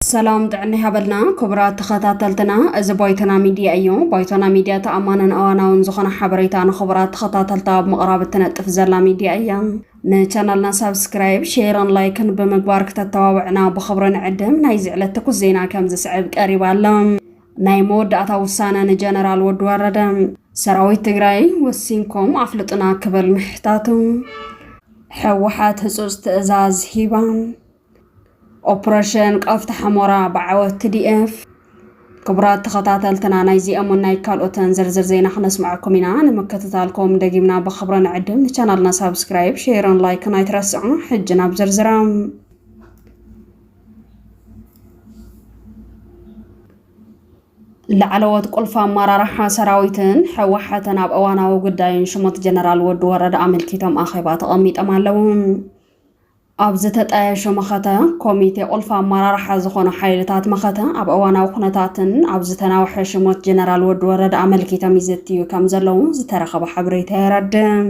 ሰላም ጥዕና ይሃበልና ክቡራት ተኸታተልትና፣ እዚ ባይቶና ሚድያ እዩ። ባይቶና ሚድያ ተኣማንን እዋናውን ዝኾነ ሓበሬታ ንኽቡራት ተኸታተልታ ኣብ ምቕራብ እትነጥፍ ዘላ ሚድያ እያ። ንቻናልና ሳብስክራይብ፣ ሼርን ላይክን ብምግባር ክተተባብዕና ብኽብሪ ንዕድም። ናይዚ ዕለት ትኩስ ዜና ከም ዝስዕብ ቀሪባ ኣሎ። ናይ መወዳእታ ውሳነ ንጀነራል ወዲ ወረደ ሰራዊት ትግራይ ወሲንኩም ኣፍልጡና ክብል ምሕታቱ፣ ሕወሓት ህፁፅ ትእዛዝ ሂባ፣ ኦፕረሽን ቐፍታ ሕሞራ ብዓወት ትዲኤፍ ክቡራት ተኸታተልትና ናይዚኦምን ናይ ካልኦትን ዝርዝር ዜና ክነስምዐኩም ኢና። ንምክትታልኩም ደጊምና ብኽብሪ ንዕድም። ንቻናልና ሳብስክራይብ፣ ሼርን ላይክን ኣይትረስዑ። ሕጂ ናብ ዝርዝራ ላዕለዎት ቁልፊ ኣመራርሓ ሰራዊትን ሕወሓትን ኣብ እዋናዊ ጉዳይን ሽሞት ጀነራል ወዲ ወረደ ኣመልኪቶም ኣኼባ ተቐሚጦም ኣለዉ። ኣብ ዝተጣየሸ መኸተ ኮሚቴ ቁልፊ ኣመራርሓ ዝኾኑ ሓይልታት መኸተ ኣብ እዋናዊ ኩነታትን ኣብ ዝተናውሐ ሽሞት ጀነራል ወዲ ወረደ ኣመልኪቶም ይዘትዩ ከም ዘለዉ ዝተረኸበ ሓበሬታ የረድእ።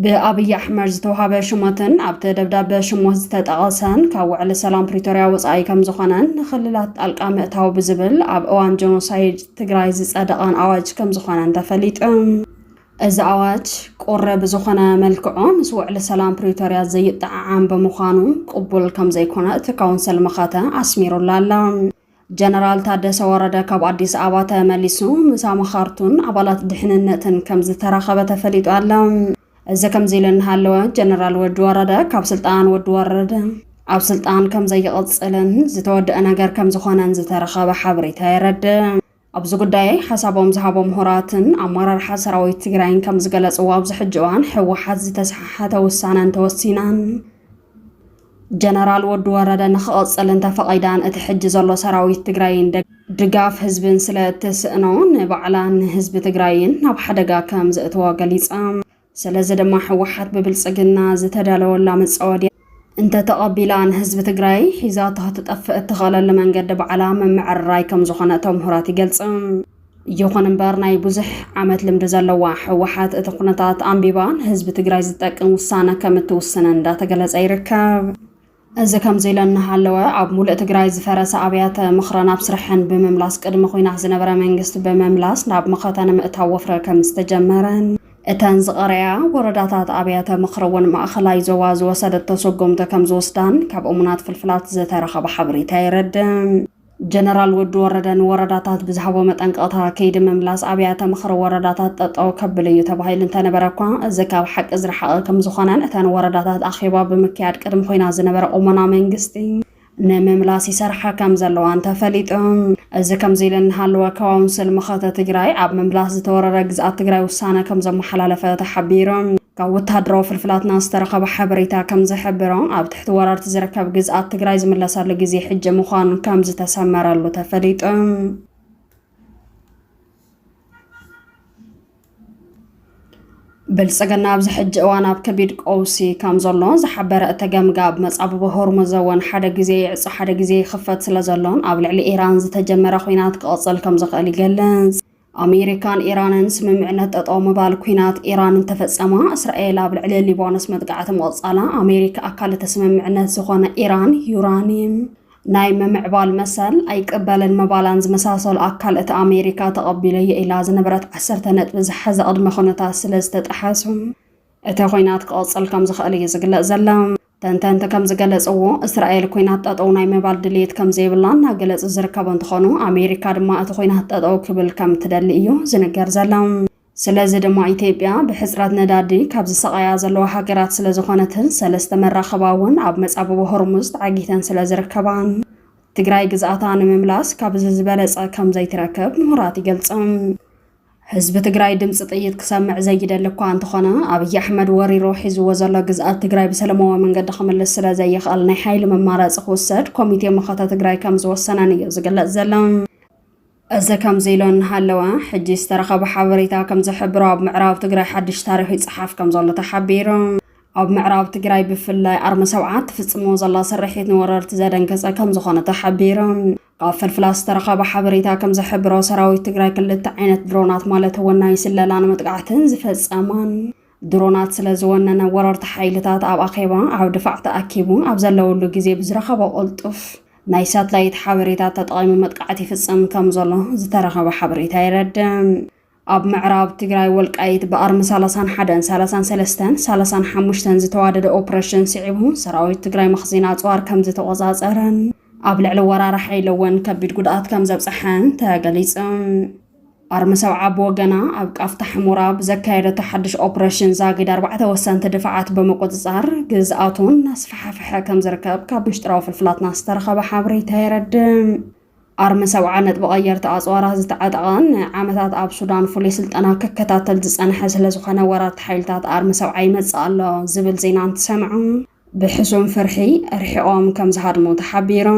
ብኣብይ ኣሕመድ ዝተውሃበ ሹመትን ኣብቲ ደብዳበ ሽሞት ዝተጠቐሰን ካብ ውዕሊ ሰላም ፕሪቶርያ ወፃኢ ከምዝኾነን ንክልላት ጣልቃ ምእታው ብዝብል ኣብ እዋን ጀኖሳይድ ትግራይ ዝፀደቐን ኣዋጅ ከምዝኾነን ተፈሊጡ። እዚ ኣዋጅ ቁሪ ብዝኾነ መልክዑ ምስ ውዕሊ ሰላም ፕሪቶርያ ዘይጠዓዓም ብምዃኑ ቅቡል ከምዘይኮነ እቲ ካውንስል መኸተ ኣስሚሩላ ኣሎ። ጀነራል ታደሰ ወረደ ካብ ኣዲስ ኣበባ ተመሊሱ ምስ ኣማኻርቱን ኣባላት ድሕንነትን ከም ዝተራኸበ ተፈሊጡ ኣሎ። እዚ ከምዚ ኢሉ እናሃለወ ጀነራል ወዲ ወረደ ካብ ስልጣን ወዲ ወረደ ኣብ ስልጣን ከም ዘይቕፅልን ዝተወደአ ነገር ከም ዝኾነን ዝተረኸበ ሓበሬታ የረድእ። ኣብዚ ጉዳይ ሓሳቦም ዝሃቦ ምሁራትን ኣመራርሓ ሰራዊት ትግራይን ከም ዝገለፅዎ ኣብዚ ሕጂ እዋን ህወሓት ዝተሰሓሓተ ውሳነ እንተወሲናን ጀነራል ወዲ ወረደ ንክቕፅል እንተፈቒዳን እቲ ሕጂ ዘሎ ሰራዊት ትግራይን ድጋፍ ህዝብን ስለ እትስእኖ ንባዕላን ንህዝቢ ትግራይን ናብ ሓደጋ ከም ዘእትዎ ገሊፆም። ስለዚ ድማ ህወሓት ብብልፅግና ዝተዳለወላ መፃወድያ እንተተቐቢላ ንህዝቢ ትግራይ ሒዛቶ ክትጠፍእ እትኽእለሉ መንገዲ ባዕላ ምምዕርራይ ከምዝኾነ እቶም ምሁራት ይገልፁ። ይኹን እምበር ናይ ብዙሕ ዓመት ልምዲ ዘለዋ ህወሓት እቲ ኩነታት ኣንቢባ ንህዝቢ ትግራይ ዝጠቅም ውሳነ ከምትውስንን እንዳተገለፀ ይርከብ። እዚ ከምዚ ኢለ እናሃለወ ኣብ ሙሉእ ትግራይ ዝፈረሰ ኣብያተ ምኽረ ናብ ስርሐን ብምምላስ ቅድሚ ኹናት ዝነበረ መንግስቲ ብምምላስ ናብ መኸተ ንምእታው ወፍሪ ከምዝተጀመረን እተን ዝቐረያ ወረዳታት ኣብያተ ምኽሪ እውን ማእኸላይ ዞባ ዝወሰደቶ ሰጎምቲ ከምዝወስዳን ካብ እሙናት ፍልፍላት ዝተረኸበ ሓበሬታ የረድእ። ጀነራል ወዲ ወረደ ንወረዳታት ብዝሃቦ መጠንቀቕታ ከይዲ ምምላስ ኣብያተ ምኽሪ ወረዳታት ጠጠው ከብል እዩ ተባሂሉ እንተነበረ እኳ እዚ ካብ ሓቂ ዝረሓቐ ከምዝኾነን እተን ወረዳታት ኣኼባ ብምክያድ ቅድሚ ኮይና ዝነበረ ቁመና መንግስቲ ንምምላስ ይሰርሓ ከም ዘለዋን ተፈሊጡ። እዚ ከምዚ ኢሉ እናሃለወ ካውንስል መኸተ ትግራይ ኣብ ምምላስ ዝተወረረ ግዝኣት ትግራይ ውሳነ ከም ዘመሓላለፈ ተሓቢሩ። ካብ ወተሃደራዊ ፍልፍላትና ዝተረኸበ ሓበሬታ ከም ዝሕብሮ ኣብ ትሕቲ ወራርቲ ዝርከብ ግዝኣት ትግራይ ዝምለሰሉ ግዜ ሕጂ ምዃኑ ከም ዝተሰመረሉ ተፈሊጡ። ብልፅግና ኣብዚ ሕጂ እዋን ኣብ ከቢድ ቀውሲ ከም ዘሎ ዝሓበረ እቲ ገምጋ ኣብ መፃብቦ ሆርሙዝ እውን ሓደ ግዜ ይዕፆ ሓደ ግዜ ይኽፈት ስለ ዘሎን ኣብ ልዕሊ ኢራን ዝተጀመረ ኩናት ክቕፅል ከም ዝኽእል ይገልፅ። ኣሜሪካን ኢራንን ስምምዕነት ጠጠው ምባል ኩናት ኢራን እንተፈጸማ እስራኤል ኣብ ልዕሊ ሊባኖስ መጥቃዕቲ ምቕጻላ ኣሜሪካ ኣካል እቲ ስምምዕነት ዝኾነ ኢራን ዩራኒየም ናይ ምምዕባል መሰል ኣይቅበልን ምባላን ዝመሳሰሉ ኣካል እቲ ኣሜሪካ ተቐቢለዮ ኢላ ዝነበረት ዓሰርተ ነጥቢ ዝሓዘ ቅድመ ኩነታት ስለ ዝተጠሓሱ እቲ ኹናት ክቕፅል ከም ዝኽእል እዩ ዝግለፅ ዘሎ። ተንተንቲ ከም ዝገለጽዎ እስራኤል ኩናት ጠጠው ናይ ምባል ድልየት ከም ዘይብላ እናገለጹ ዝርከቡ እንትኾኑ ኣሜሪካ ድማ እቲ ኩናት ጠጠው ክብል ከም ትደሊ እዩ ዝንገር ዘሎ። ስለዚ ድማ ኢትዮጵያ ብሕጽረት ነዳዲ ካብ ዝሰቓያ ዘለዋ ሃገራት ስለ ዝኾነትን ሰለስተ መራኸባ እውን ኣብ መጻብቦ ሆርሙዝ ተዓጊተን ስለ ዝርከባን ትግራይ ግዝኣታ ንምምላስ ካብ እዚ ዝበለጸ ከም ዘይትረክብ ምሁራት ይገልጹ። ህዝቢ ትግራይ ድምፂ ጥይት ክሰምዕ ዘይደሊ እኳ እንተኾነ ኣብይ ኣሕመድ ወሪሮ ሒዝዎ ዘሎ ግዝኣት ትግራይ ብሰለማዊ መንገዲ ክምልስ ስለ ዘይኽእል ናይ ሓይሊ መማረፂ ክውሰድ ኮሚቴ መኸተ ትግራይ ከም ዝወሰነን እዩ ዝግለፅ ዘሎ። እዚ ከምዚ ኢሎ እናሃለወ ሕጂ ዝተረኸበ ሓበሬታ ከም ዝሕብሮ ኣብ ምዕራብ ትግራይ ሓድሽ ታሪኽ ይፀሓፍ ከም ዘሎ ተሓቢሩ። ኣብ ምዕራብ ትግራይ ብፍላይ ኣርሚ ሰብዓ እትፍፅሞ ዘላ ስርሒት ንወረርቲ ዘደንገፀ ከም ዝኾነ ተሓቢሩ። ካብ ፍልፍላት ዝተረኸበ ሓበሬታ ከም ዝሕብሮ ሰራዊት ትግራይ ክልተ ዓይነት ድሮናት ማለት ወናኝ ስለላን መጥቃዕትን ዝፈጸማን ድሮናት ስለ ዝወነነ ወረርቲ ሓይልታት ኣብ ኣኼባ ኣብ ድፋዕ ተኣኪቡ ኣብ ዘለውሉ ግዜ ብዝረኸቦ ቅልጡፍ ናይ ሳትላይት ሓበሬታ ተጠቒሙ መጥቃዕቲ ይፍጽም ከም ዘሎ ዝተረኸበ ሓበሬታ የረድእ። ኣብ ምዕራብ ትግራይ ወልቃይት ብኣርሚ ሰላሳን ሓደን ሰላሳን ሰለስተን ሰላሳን ሓሙሽተን ዝተዋደደ ኦፕሬሽን ስዒቡ ሰራዊት ትግራይ መኽዚን ኣፅዋር ከም ዝተቖፃፀረን ኣብ ልዕሊ ወራሪ ሓይሊ እውን ከቢድ ጉድኣት ከም ዘብፀሐን ተገሊፁ። ኣርሚ ሰብዓ ብወገና ኣብ ቃፍታ ሕሙራ ብዘካየደቶ ሓድሽ ኦፕሬሽን ዛጊድ ኣርባዕተ ወሰንቲ ድፋዓት ብምቁፅፃር ግዝኣቱን እናስፈሓፈሐ ከም ዝርከብ ካብ ምሽጥራዊ ፍልፍላትና ዝተረኸበ ሓበሬታ የረድእ። ኣርሚ ሰብዓ ነጥቢ ቀየርቲ ኣጽዋራት ዝተዓጠቐን ንዓመታት ኣብ ሱዳን ፍሉይ ስልጠና ክከታተል ዝጸንሐ ስለ ዝኾነ ወራርቲ ሓይልታት ኣርሚ ሰብዓ ይመጽእ ኣሎ ዝብል ዜና እንትሰምዑ ብሕሱም ፍርሒ ርሒቖም ከም ዝሃድሙ ተሓቢሩ።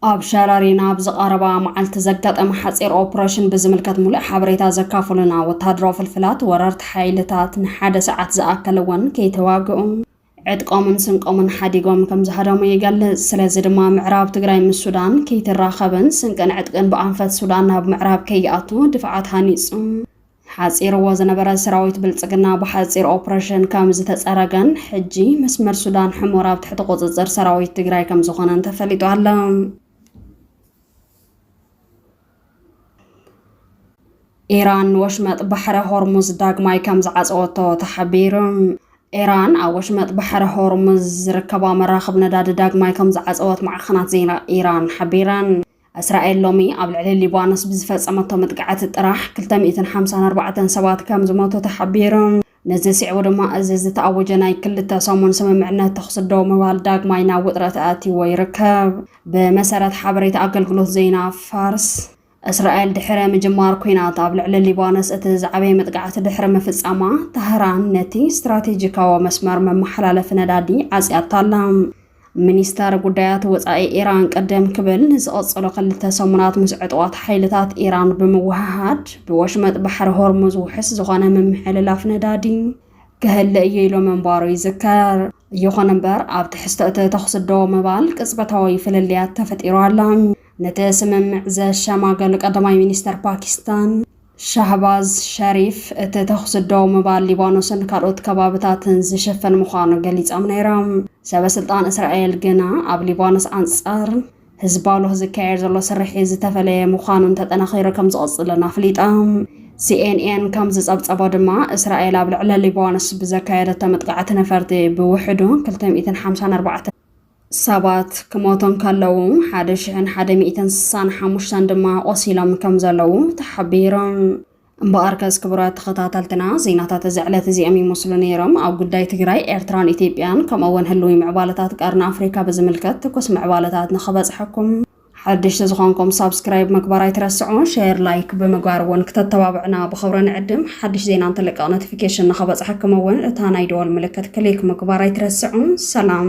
ኣብ ሸረሪን ኣብ ዝቐረባ መዓልቲ ዘጋጠመ ሓጺር ኦፕሬሽን ብዝምልከት ምሉእ ሓበሬታ ዘካፍሉና ወተሃደራዊ ፍልፍላት ወረርቲ ሓይልታት ንሓደ ሰዓት ዝኣከለ እውን ከይተዋግኡ ዕጥቆምን ስንቆምን ሓዲጎም ከም ዝሃደሙ ይገልጽ። ስለዚ ድማ ምዕራብ ትግራይ ምስ ሱዳን ከይትራኸብን ስንቅን ዕጥቅን ብኣንፈት ሱዳን ናብ ምዕራብ ከይኣቱ ድፍዓት ሃኒጹ ሓጺርዎ ዝነበረ ሰራዊት ብልጽግና ብሓጺር ኦፕሬሽን ከም ዝተጸረገን ሕጂ መስመር ሱዳን ሕሞር ኣብ ትሕቲ ቁጽጽር ሰራዊት ትግራይ ከም ዝኾነን ተፈሊጡ ኣሎ። ኢራን ንወሽመጥ ባሕረ ሆርሙዝ ዳግማይ ከም ዝዓፀወቶ ተሓቢሩ። ኢራን ኣብ ወሽመጥ ባሕረ ሆርሙዝ ዝርከባ መራኽብ ነዳዲ ዳግማይ ከም ዝዓፀወት ማዕኸናት ዜና ኢራን ሓቢረን። እስራኤል ሎሚ ኣብ ልዕሊ ሊባኖስ ብዝፈፀመቶ መጥቃዕቲ ጥራሕ 254 ሰባት ከም ዝሞቱ ተሓቢሩ። ነዚ ስዒቡ ድማ እዚ ዝተኣወጀ ናይ ክልተ ሰሙን ስምምዕነት ተኹሲ ደው ምባል ዳግማይ ናብ ውጥረት ኣእትይዎ ይርከብ። ብመሰረት ሓበሬታ ኣገልግሎት ዜና ፋርስ፣ እስራኤል ድሕሪ ምጅማር ኲናት ኣብ ልዕሊ ሊባኖስ እቲ ዝዓበየ መጥቃዕቲ ድሕሪ ምፍጻማ፣ ታህራን ነቲ ስትራቴጂካዊ መስመር መመሓላለፊ ነዳዲ ዓጽያቶ ኣላ። ሚኒስተር ጉዳያት ወጻኢ ኢራን ቅድም ክብል ንዝቐጸሉ ክልተ ሰሙናት ምስ ዕጡቓት ሓይልታት ኢራን ብምውህሃድ ብወሽመጥ ባሕሪ ሆርሙዝ ውሑስ ዝኾነ ምምሕልላፍ ነዳዲ ክህለ እዩ ኢሎ ምንባሩ ይዝከር። ይኹን እምበር ኣብ ትሕዝቶ እቲ ተኹሲ ደው ምባል ቅጽበታዊ ፍልልያት ተፈጢሩ ኣሎ። ነቲ ስምምዕ ዘሸማገሉ ቀዳማይ ሚኒስተር ፓኪስታን ሻህባዝ ሸሪፍ፣ እቲ ተዅሲ ደው ምባል ሊባኖስን ካልኦት ከባብታትን ዝሽፍን ምዃኑ ገሊጾም ነይሮም። ሰበስልጣን እስራኤል ግና፣ ኣብ ሊባኖስ ኣንጻር ህዝባሎህ ዝካየድ ዘሎ ስርሒት ዝተፈለየ ምዃኑን ተጠናኺሩ ከም ዝቕጽልን ኣፍሊጦም። ሲኤንኤን ከም ዝጸብጸቦ ድማ፣ እስራኤል ኣብ ልዕሊ ሊባኖስ ብዘካየደቶ መጥቃዕቲ ነፈርቲ ብውሕዱ ክልተ ሚእትን ሓምሳን ኣርባዕተን፣ ሰባት ክሞቶም ከለዉ ሓደ ሽሕን ሓደ ሚእትን ስሳን ሓሙሽተን ድማ ቆሲሎም ከም ዘለዉ ተሓቢሮም። እምበኣርከስ ክቡራት ተኸታተልትና ዜናታት እዚ ዕለት እዚኦም ይመስሉ ነይሮም። ኣብ ጉዳይ ትግራይ፣ ኤርትራን ኢትዮጵያን ከምኡ'ውን ህልዊ ምዕባለታት ቀርኒ ኣፍሪካ ብዝምልከት ትኩስ ምዕባለታት ንኽበጽሐኩም ሓድሽ ተዝኾንኩም ሳብስክራይብ ምግባር ኣይትረስዑ ሼር ላይክ ብምግባር እውን ክተተባብዕና ብኽብሪ ንዕድም ሓድሽ ዜና እንትልቀቕ ኖቲፊኬሽን ንኸበፅሐኩም እውን እታ ናይ ደወል ምልክት ክሊክ ምግባር ኣይትረስዑ ሰላም